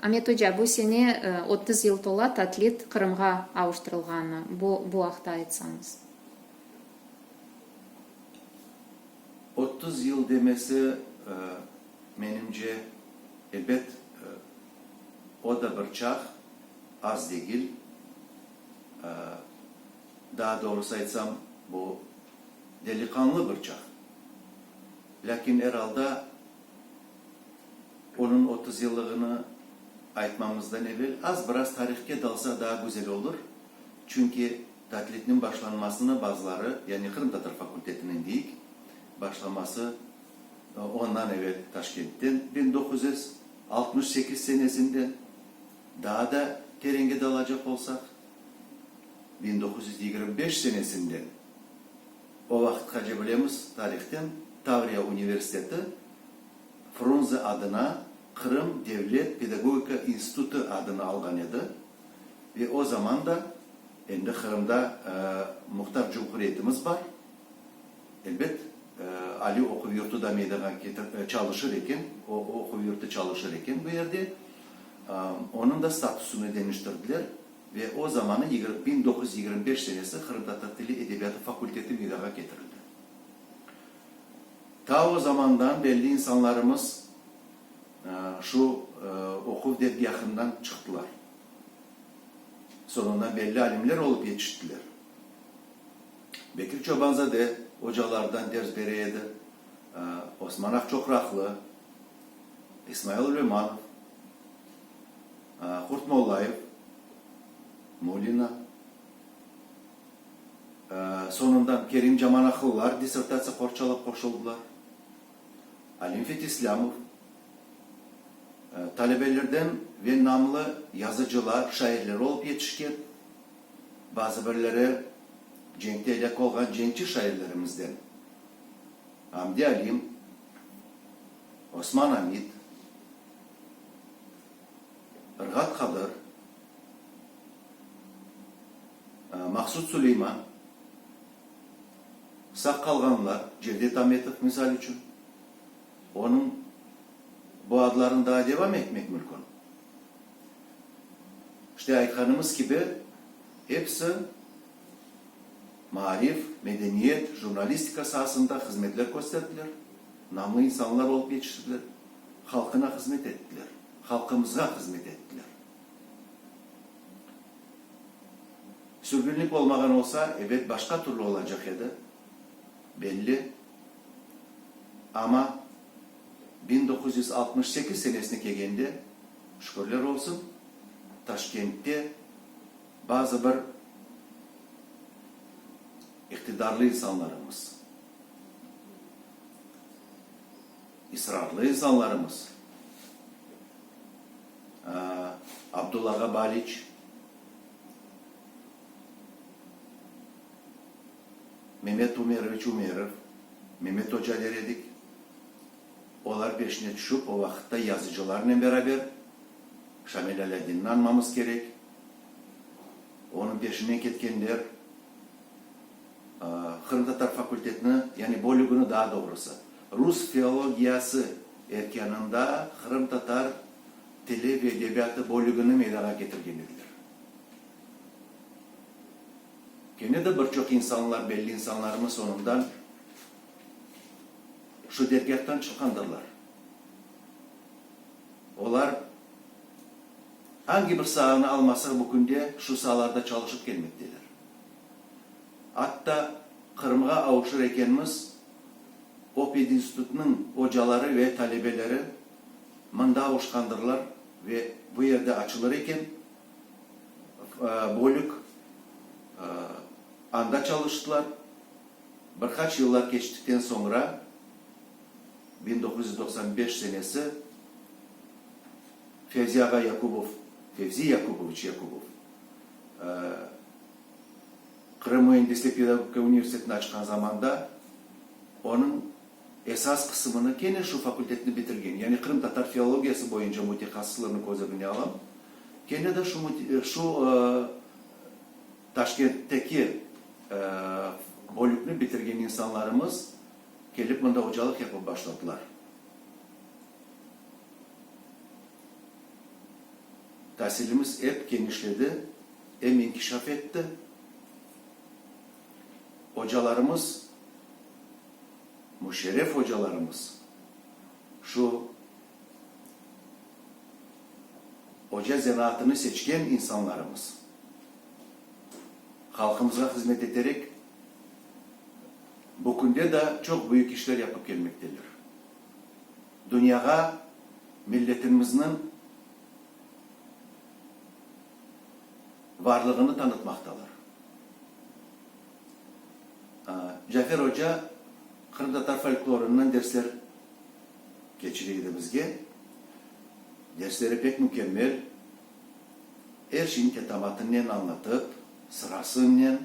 Amet oca, bu sene otuz yıl tola Tatlit Qırımğa avuştırılğanına, bu bu aqta aytsañız. Otuz yıl demesi, menimce, ebet, o da bir çağ, az degil. Daa doğrusı aytsam, bu deliqanlı bir çağ. Lâkin, er alda, Onıñ otuz yıllığını aytmamızdan evel az biraz tarihke dalsaq daa güzel olur, çünki tatlitniñ başlanmasını bazıları, yani qırımtatar fakultetiniñ deyik, başlaması ondan evel Taşkentten, biñ doquz yüz altmış sekiz senesinden, daa da terenge dalacaq olsaq, biñ doquz yüz yigirmi beş senesinden, O vaqıtqace bilemiz tarihten, Tavriya universiteti Frunze adına Qırım devlet pedagogika institutı adını alğan edi ve o zaman da endi Qırımda muhtar cumhuriyetimiz bar, elbet, aliy oquv yurtu da meydanğa çalışır eken, o oquv yurtu çalışır eken bu yerde. Onıñ da statusını deñiştirdiler. Ve o zamanı yigirmi biñ doquz yüz yigirmi beş senesi qırımtatar tili edebiyatı fakulteti meydanğa ketirildi. Ta o zamandan belli insanlarımız şu oquv dergâhından çıqtılar. Soñundan belli alimler olıp yetiştiler. Bekir Çobanzade ocalardan ders bere edi, Osman Aqçoqraqlı, İsmail Ülemanov. Qurtmollayev, Mulina, soñundan Kerim Camanahlılar dissertatsiya qorçalap qoşuldılar, Alim Fetislâmov, talebelerden ve namlı yazıcılar, şairler olıp yetişken, bazı birleri cenkte elâk olğan cenkçi şairlerimizden, Amdi Alim, Osman Amid, Rğat Qadır, Maqsud Suleyman, sağ qalğanlar, Cevdet Ametov, misal içün, onıñ bu adlarını daa devam etmek mülkün. İşte, aytqanımız kibi, episi maarif, medeniyet, jurnalistika saasında hızmetler kösterdiler, namlı insanlar olıp yetiştiler. Halqına hızmet ettiler. Halqımızğa hızmet ettiler. Sürgünlik olmağan olsa, ebet, başqa türlü olacaq edi, belli. Amma biñ doquz yüz altmış sekiz senesine kelgende, şükürler olsun, Taşkentte bazı bir iqtidarlı insanlarımız, İsrarlı insanlarımız, Abdullağa Baliç, Memet Umeroviç Umerov, Memet Oca der edik, olar peşine tüşip, o vaqıtta yazıcılarnen beraber Şamil Alâdinni añmamız kerek, onıñ peşinen ketkenler. Qırımtatar fakultetini, yani bölügini daa doğrusı, rus filologiyası erkânında qırımtatar tili ve edebiyatı bölügini meydağa ketirgen ediler. Kene de bir çoq insanlar, belli insanlarımız soñundan şu dergâhtan çıqqandırlar. Olar angi bir saanı almasaq, bu künde şu saalarda çalışıp kelmekteler. Atta Qırımğa avuşır ekenmiz, o pedinstitutnıñ ocaları ve talebeleri mında avuşqandırlar ve bu yerde açılır eken bölük, anda çalıştılar. Bir qaç yıllar keçtikten soñra, biñ doquz yüz doqsan beş senesi, Fevzi ağa Yakubov, Fevzi Yakubovıç Yakubov, Qırım Müendislik pedagogika universitetini açqan zamanda onıñ esas qısımını kene şu fakultetni bitirgen, yani qırımtatar filologiyası boyunca mütehassıslarnı köz ögüne alam, kene de şu şu Taşkentteki bölükni bitirgen insanlarımız kelip mında ocalıq yapıp başladılar. Tasilimiz ep kenişledi. em inkişaf etti, ocalarımız, müşerref ocalarımız, şu oca zenaatını seçken insanlarımız halqımızğa hızmet eterek, bu künde da çoq büyük işler yapıp kelmekteler. Dünyağa milletimizniñ. varlığını tanıtmaqtalar. Cafer oca qırımtatar folklorından dersler keçire edi bizge. Dersleri pek mükemmel, er şeyni tetamatınen añlatıp, sırasınen,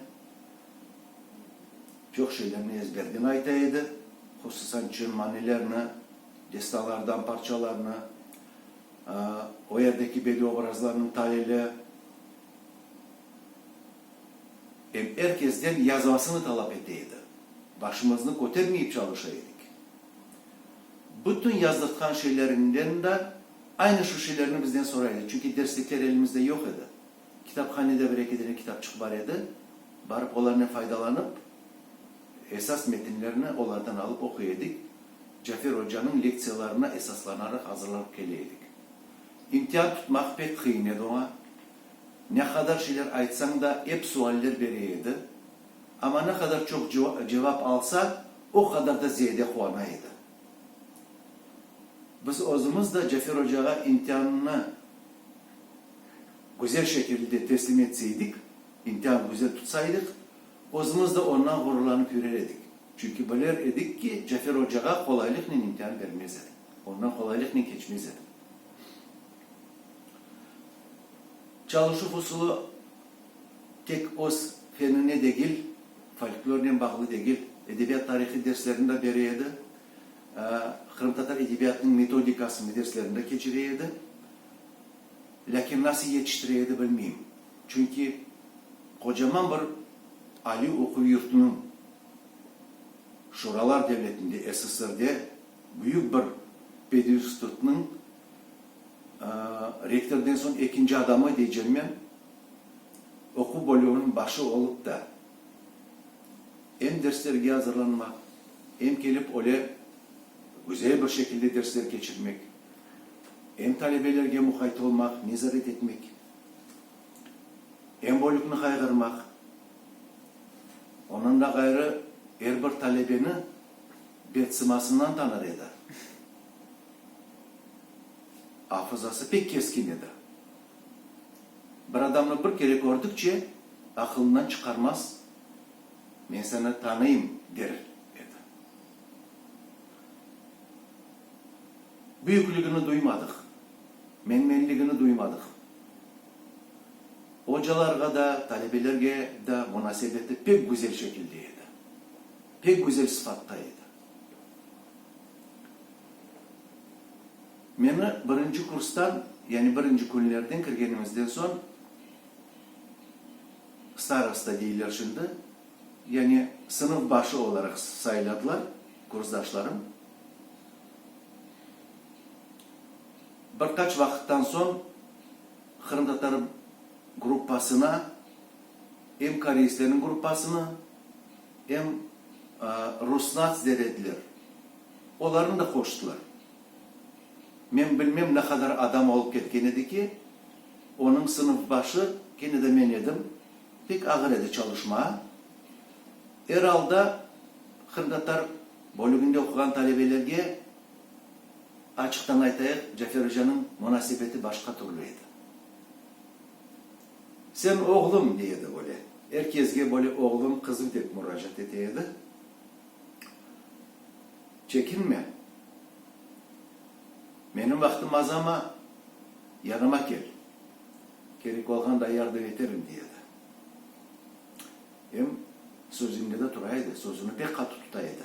çoq şeylerni ezberden ayta edi, hususan çın manilerini, destanlardan parçalarnı, O yerdeki belli obrazlarnıñ talili em er kesden yazmasını talap ete edi. Başımıznı kötermeyip çalışa edik. Bütün yazdırtqan şeylerinden da aynı şu şeylerni bizden soray edi, çünki derslikler elimizde yoq edi. Kitaphanede bir-eki dene kitapçıq bar edi, barıp olarnen faydalanıp, esas metinlerni olardan alıp oquy edik, Cafer ocanıñ lektsiyalarına esaslanaraq azırlanıp kele edik. İmtihan tutmaq pek qıyın edi oña, ne qadar şeyler aytsañ da, ep sualler bere edi, amma ne qadar çoq cevap alsa, o qadar da ziyade quvana edi. Biz özümiz de Cafer ocağa imtiannı güzel şekilde teslim etseydik, imtihan güzel tutsaydıq, özümiz de ondan ğururlanıp yürer edik. Çünki bilir edik ki, Cafer ocağa qolaylıqnen imtihan bermez edi, ondan qolaylıqnen keçmez edi. Çalışuv usulı tek öz fenine degil, folklornen bağlı degil, edebiyat tarihı derslerini de bere edi, qırımtatar edebiyatınıñ metodikasını derslerinde keçire edi. Lâkin nasıl yetiştire edi, bilmeyim. Çünki qocaman bir aliy oquv yurtunıñ, Şuralar devletinde, SSRde, büyük bir pedinstitutnıñ rektordan soñ ekinci adamı, deycem men, oquv bölüginiñ başı olıp da, em derslerge azırlanmaq, em kelip öyle güzel bir şekilde dersler keçirmek, em talebelerge muqayt olmaq, nezaret etmek, em bölükni qayğırmaq, ondan da ğayrı er bir talebeni betsimasından tanır edi. Afızası pek keskin edi. Bir adamnı bir kere kördükçe, aqılından çıqarmaz, men seni tanıyım, der edi. Büyüklügini duymadıq, menmenligini duymadıq. Ocalarğa da, talebelerge da munasebeti pek güzel şekilde edi, pek güzel sıfatta edi. Meni birinci kurstan, yani birinci künlerden kirgenimizden soñ, starosta deyler şimdi, yani sınıf başı olaraq sayladılar. Kursdaşlarım bir qaç vaqıttan soñ qırımtatar gruppasına, em koreistlerniñ gruppasını, em Rusnats der ediler, olarnı da qoştılar. Men bilmem ne qadar adam olıp ketken edi ki, onıñ sınıfbaşı kene de men edim. Pek ağır edi çalışma. Er alda qırımtatar bölüginde oquğan talebelerge, açıqtan aytayıq, Cafer ocanıñ munasebeti başqa türlü edi. Sen oğlum, dey edi, böyle, er kezge böyle oğlum, qızım dep muracaat ete edi. Çekinme, menim vaqtım azama, yanıma kel. Kerek olğanda yardım eterim, dey edi. Em sözünde de tura edi, sözüni pek qatı tuta edi.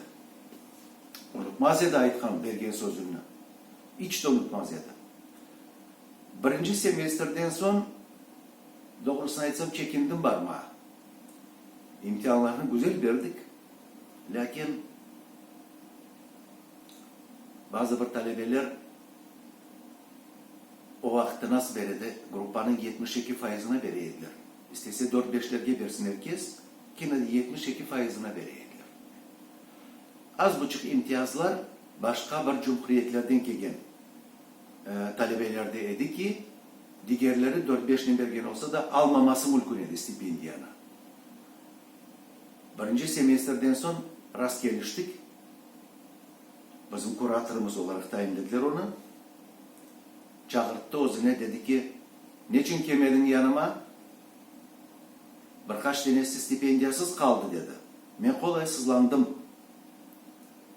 Unutmaz edi aytqan, bergen sözüni. İç de unutmaz edi. Birinci semestrden soñ, doğrusını aytsam, çekindim barmağa. İmtihanlarnı güzel berdik, lâkin bazı bir talebeler O vaqıtta nas beredi, gruppanıñ yetmiş eki faizına bere ediler. İstese dört-beşlerge bersin erkes, kene de yetmiş eki faizına bere ediler. Az buçuq imtiyazlar başqa bir cumhuriyetlerden kelgen talebelerde edi ki, digerleri dört-beşnen bergen olsa da, almaması mülkün edi stipendiyanı. Birinci semestrden soñ rastkeliştik. Bizim kuratorımız olaraq tayinlediler onı. Çağırttı özüne, dedi ki, Neçün kelmediñ yanıma? Bir qaç denesi stipendiyasız qaldı, dedi. Men qolaysızlandım.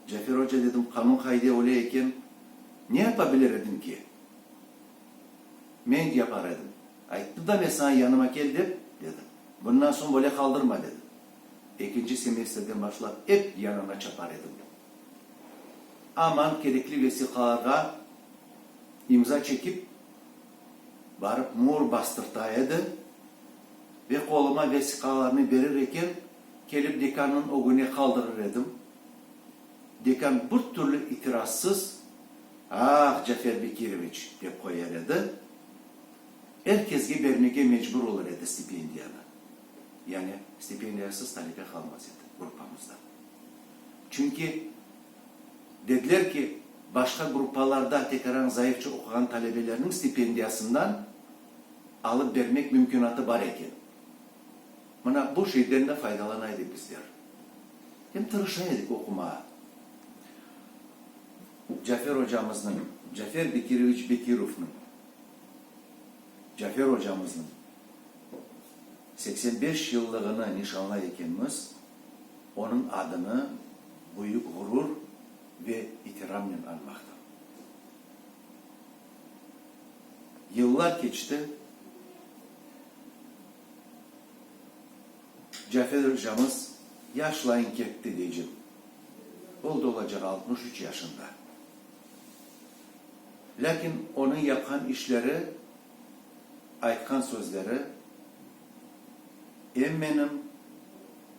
Cafer oca, dedim, qanun qaide öyle eken, ne yapabilir edim ki? Men yapar edim. Ayttım da men saña yanıma kel dep, dedi. Bundan soñ böyle qaldırma, dedi. Ekinci semestrden başlap ep yanına çapar edim. Aman kerekli vesiqalarğa imza çekip, barıp muur bastırta edi ve qoluma vesiqalarnı berir eken, kelip dekannıñ ögüne qaldırır edim. Dekan bir türlü itirazsız, Ah, Cafer Bekiroviç! dep qoyar edi. Er kesge bermege mecbur olur edi stipendiyanı. yani stipendiyasız talibe qalmaz edi gruppamızda. Çünki dediler ki, başqa gruppalarda tekerañ zayıfça oquğan talebelerniñ stipendiyasından alıp bermek mümkünatı bar eken. Mına bu şeyden de faydalana edik bizler. Hem tırışa edik oqumağa. Cafer ocamıznıñ, Cafer Bekiroviç Bekirovnıñ. Cafer ocamıznıñ seksen beş yıllığını nişanlay ekenmiz, onıñ adını büyük ğurur ve itiramnen añmaqta. Yıllar keçti, Cafer ocamız yaşlayın ketti, deycem, oldı olacaq altmış üç yaşında. Lâkin onı yaqan işleri, aytqan sözleri em menim,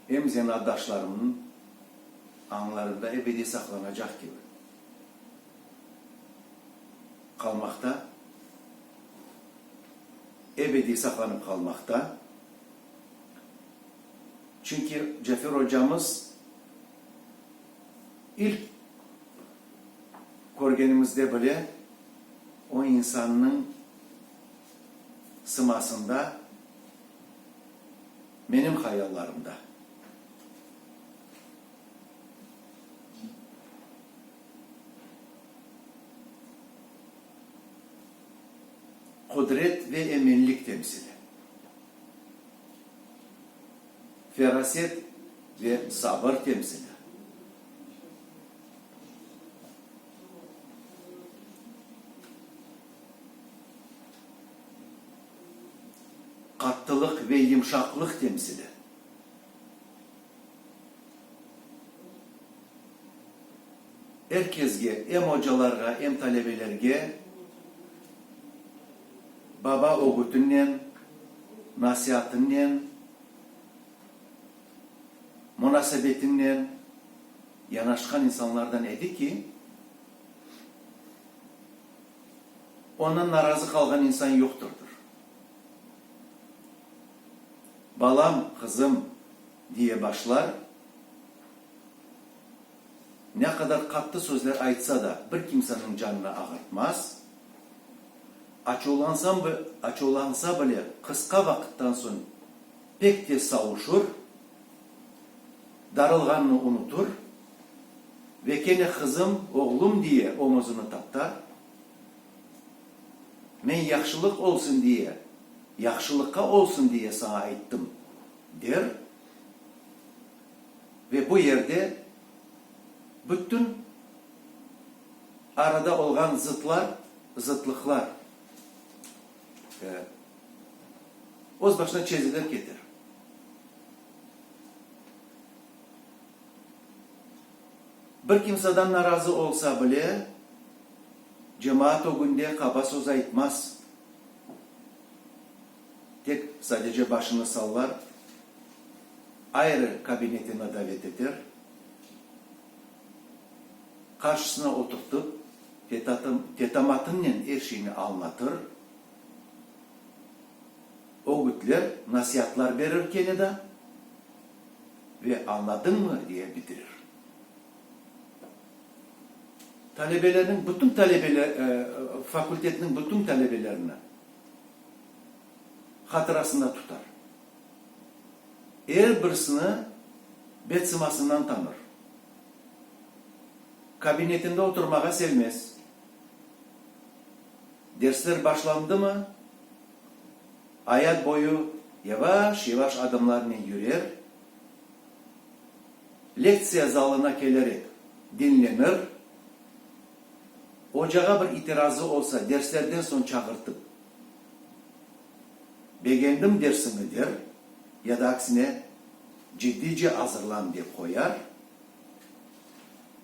em zenaatdaşlarımnıñ añlarında ebediy saqlanacaq kibi qalmaqta, ebediy saqlanıp qalmaqta. Çünki Cafer ocamız. İlk körgenimizde bile o insannıñ sımasında, menim hayallarımda. Qudret ve eminlik temsili. feraset ve sabır temsili. Qattılıq ve yımşaqlıq temsili. Er kesge, em ocalarğa, em talebelerge. Baba ögütinnen, nasiatinnen, munasebetinnen yanaşqan insanlardan edi ki, ondan narazı qalğan insan yoqtırdır. Balam, qızım, diye başlar. ne qadar qattı sözler aytsa da, bir kimseniñ canını ağırtmaz, açuvlansam, açuvlansa bile, qısqa vaqıttan soñ pek tez savuşur, darılğanını unutur ve kene qızım, oğlum diye omuzını taptar. Men yahşılıq olsun diye, yahşılıqqa olsun diye saña ayttım, der. ve bu yerde bütün arada olğan zıtlar, zıtlıqlar öz başına çezilir keter. Bir kimsadan narazı olsa bile, cemaat ögünde qaba söz aytmaz. Tek sadece başını sallar, ayrı kabinetine davet eter, qarşısına oturtıp, tetamatınnen er şeyni añlatır, ögütler, nasiatlar berir kene da ve añladıñmı diye bitirir. Talebelerniñ bütün, fakultetniñ bütün talebelerini. hatırasında tutar, er birisini bet-sımasından tanır, kabinetinde oturmağa sevmez, dersler başlandımı, ayat boyu yavaş-yavaş adımlarnen yürer, lektsiya zalına kelerek diñlenir, Ocağa bir itirazı olsa, derslerden soñ çağırtıp, begendim dersiñi der, ya da aksine, ciddice azırlan dep qoyar,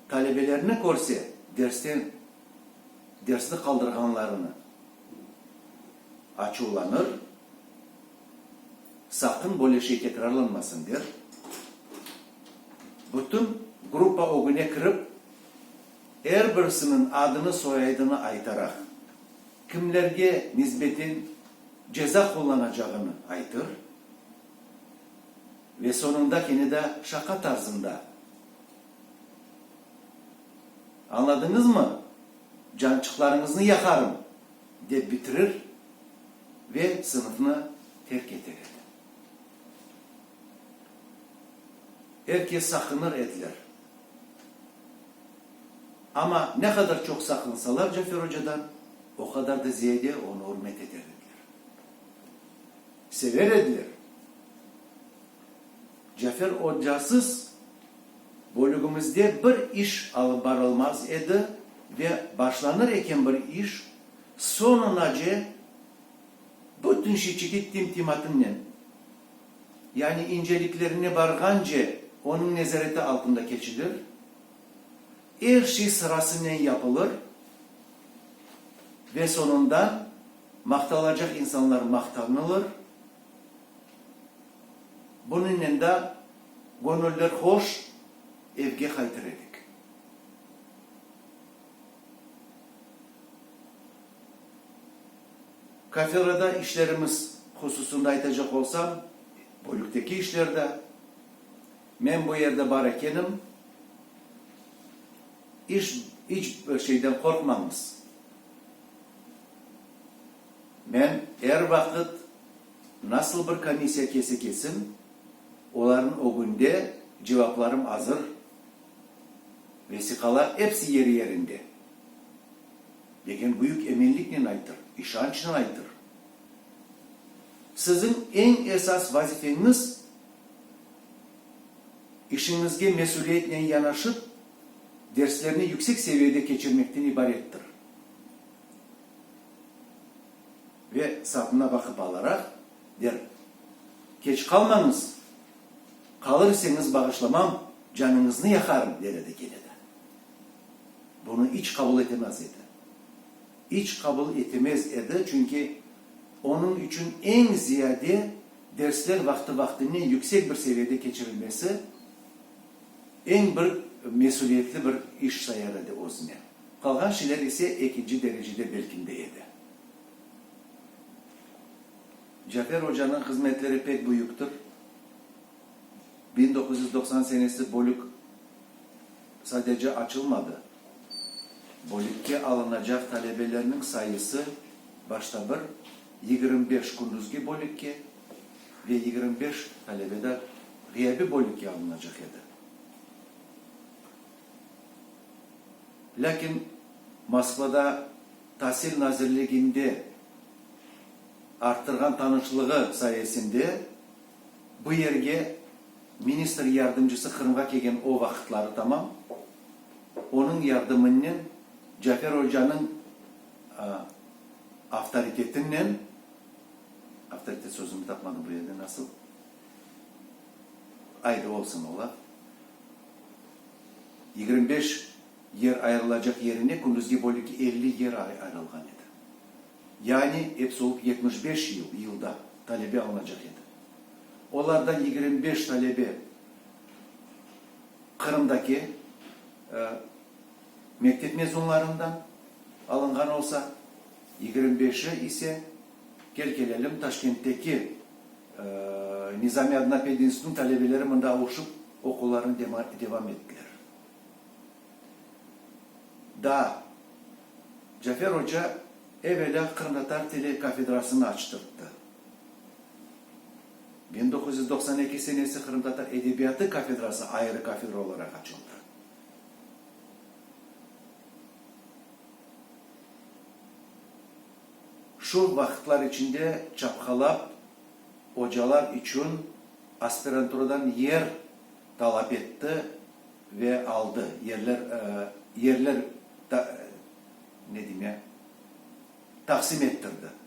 talebelerini körse, dersten, dersni qaldırğanlarını açuvlanır, saqın böyle şey tekrarlanmasın der, bütün gruppa ögüne kirip, Er birisiniñ adını-soyaydını aytaraq, kimlerge nisbeten ceza qullanacağını aytır ve soñunda kene de şaqa tarzında, Añladıñızmı? Cançıqlarıñıznı yaqarım! dep bitirir ve sınıfnı terk eter edi. Er kes saqınır ediler. Amma ne qadar çoq saqlansalar Cafer ocadan, o qadar da ziyade onı ürmet eter ediler. Sever ediler. Cafer ocasız bölügimizde bir iş alıp barılmaz edi ve başlanır eken bir iş, soñunace bütün şiçiti tim-timatimnen. yani inceliklerine barğance onıñ nezareti altında keçilir, er şey sırasınen yapılır ve soñunda maqtalacaq insanlar maqtanılır, bunıñnen da göñüller hoş evge qaytır edik. Kafelerde işlerimiz hususında aytacaq olsam, bölükteki işlerde, men bu yerde bar ekenim, iş, iç bir şeyden qorqmañız. Men er vaqıt, nasıl bir komissiya kelse-kelsin, olarnıñ ögünde cevaplarım azır. Vesiqalar epsi yeri-yerinde. Leken büyük eminliknen aytır, işançnen aytır, siziñ eñ esas vazifeñiz, işiñizge mesüliyetnen yanaşıp, derslerni yüksek seviyede keçirmekten ibarettir. Ve, sapına baqıp alaraq, der. Keç qalmañız, qalır iseñiz bağışlamam, canıñıznı yaqarım, der edi Keleda. Bunı iç qabul etemez edi. İç qabul etemez edi, çünki onıñ içün eñ ziyade dersler vaqtı-vaqtınen yüksek bir seviyede keçirilmesi eñ bir mesüliyetli bir iş sayar edi özüne. Qalğan şeyler ise ekinci derecede belkindi edi. Cafer ocanıñ hızmetleri pek büyüktir. Biñ doquz yüz doqsan senesi bölük sadece açılmadı, bölükke alınacaq talebelerniñ sayısı başta bir, yigirmi beş kündüzgi bölükke ve yigirmi beş talebe da ğıyabiy bölükke alınacaq edi. Lâkin Moskvada, Tasil nazirliginde arttırğan tanışlığı sayesinde bu yerge ministr yardımcısı Qırımğa kelgen o vaqıtları tamam, onıñ yardımınnen Cafer ocanıñ avtoritetinnen, avtoritet sözüni tapmadım bu yerde nasıl, aydı olsun ola, yigirmi beş, Yer ayırılacaq yerine kündüzgi bölüki elli yer ayırılğan edi. Yani, episi olıp yetmiş beş yıl, yılda, talebe alınacaq edi. Olardan yigirmi beş talebe Qırımdaki mektep mezunlarından alınğan olsa, yigirmi beşi ise, kel kelelim, Taşkentteki Nizami adına pedinstitutnıñ talebeleri mında avuşıp oquvlarını devam ettiler. da Cafer oca evelâ qırımtatar tili kafedrasını açtırttı. Biñ doquz yüz doqsan eki senesi qırımtatar edebiyatı kafedrası ayrı kafedra olaraq açıldı. Şu vaqıtlar içinde çapqalap ocalar içün aspiranturadan yer. talap etti ve aldı, yerler, yerler ta, ne deyim ya, taqsim ettirdi.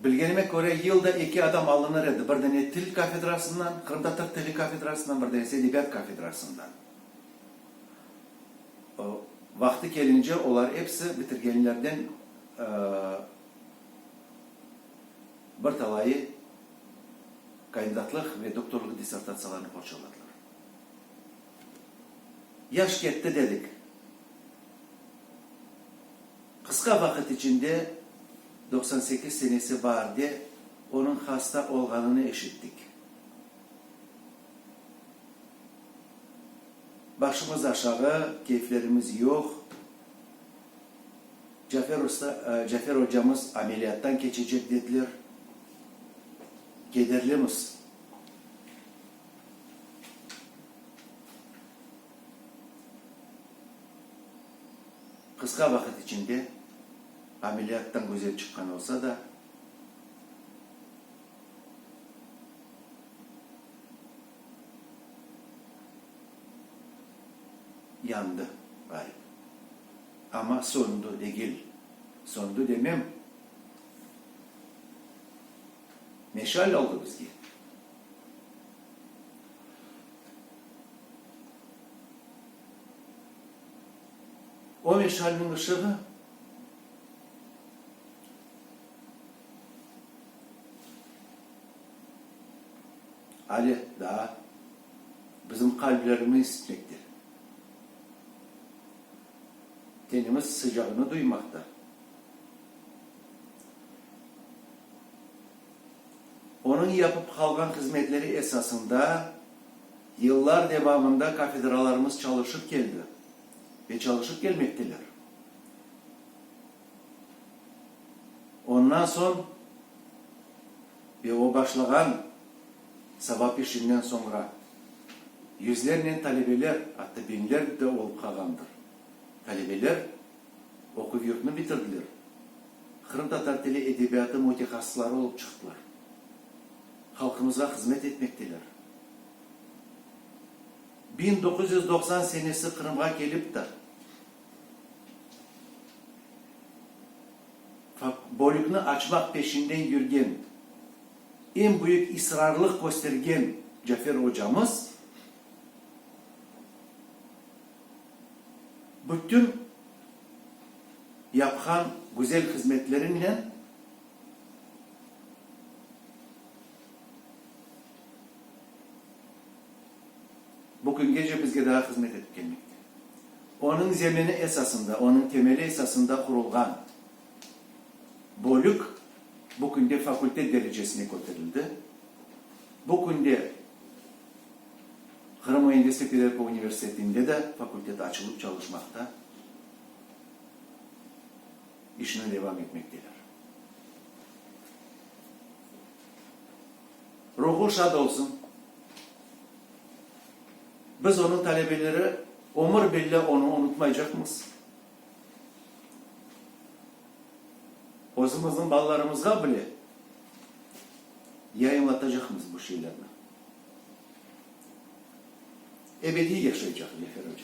Bilgenime köre, yılda eki adam alınır edi, bir dene til kafedrasından, qırımtatar tili kafedrasından, bir denesi edebiyat kafedrasından. Vaqtı kelince olar episi bitirgenlerden, bir talayı kandidatlıq ve doktorlıq dissertatsiyalarını qorçaladılar. Yaş ketti dedik. Qısqa vaqıt içinde, doqsan sekiz senesi bar de, onıñ hasta olğanını eşittik. Başımız aşağı, keyflerimiz yoq. Cafer usta, Cafer ocamız ameliyattan keçecek dediler. Kederlimiz. Qısqa vaqıt içinde ameliyattan güzel çıqqan olsa da, yandı, ğayıp. Amma soñdu degil. Soñdu demem. Meşal oldı bizge. O meşalniñ ışığı ale daa bizim qalblerimizni isitmekte. tenimiz sıcağını duymaqta. Onıñ yapıp qalğan hızmetleri esasında yıllar devamında kafedralarımız çalışıp keldi ve çalışıp kelmekteler. Ondan soñ. ve o başlağan savap işinden soñra yüzlernen talebeler, atta biñler de olıp qalğandır. Talebeler oquv yurtnı bitirdiler, qırımtatar tili edebiyatı mütehassısları olıp çıqtılar, halqımızğa hızmet etmekteler. Biñ doquz yüz doqsan senesi Qırımğa kelipdir. Bölükni açmaq peşinden yürgen, eñ büyük israrlıq köstergen Cafer ocamız bütün yapqan güzel hızmetlerinen, Bu küngece bizge daa hızmet etip kelmekte. Onıñ zemini esasında, onıñ temeli esasında qurulğan bölük bu künde fakultet derecesine köterildi. Bu künde Qırım Müendislik Pedagogika Universitetinde de fakultet açılıp çalışmaqta, işine devam etmekteler. Ruhu şad olsun. Biz onıñ talebeleri ömür bille onı unutmaycaqmız. Özümizniñ balalarımızğa bile yayınlatacaqmız bu şiirlerni. Ebediy yaşaycaq Cefer oca.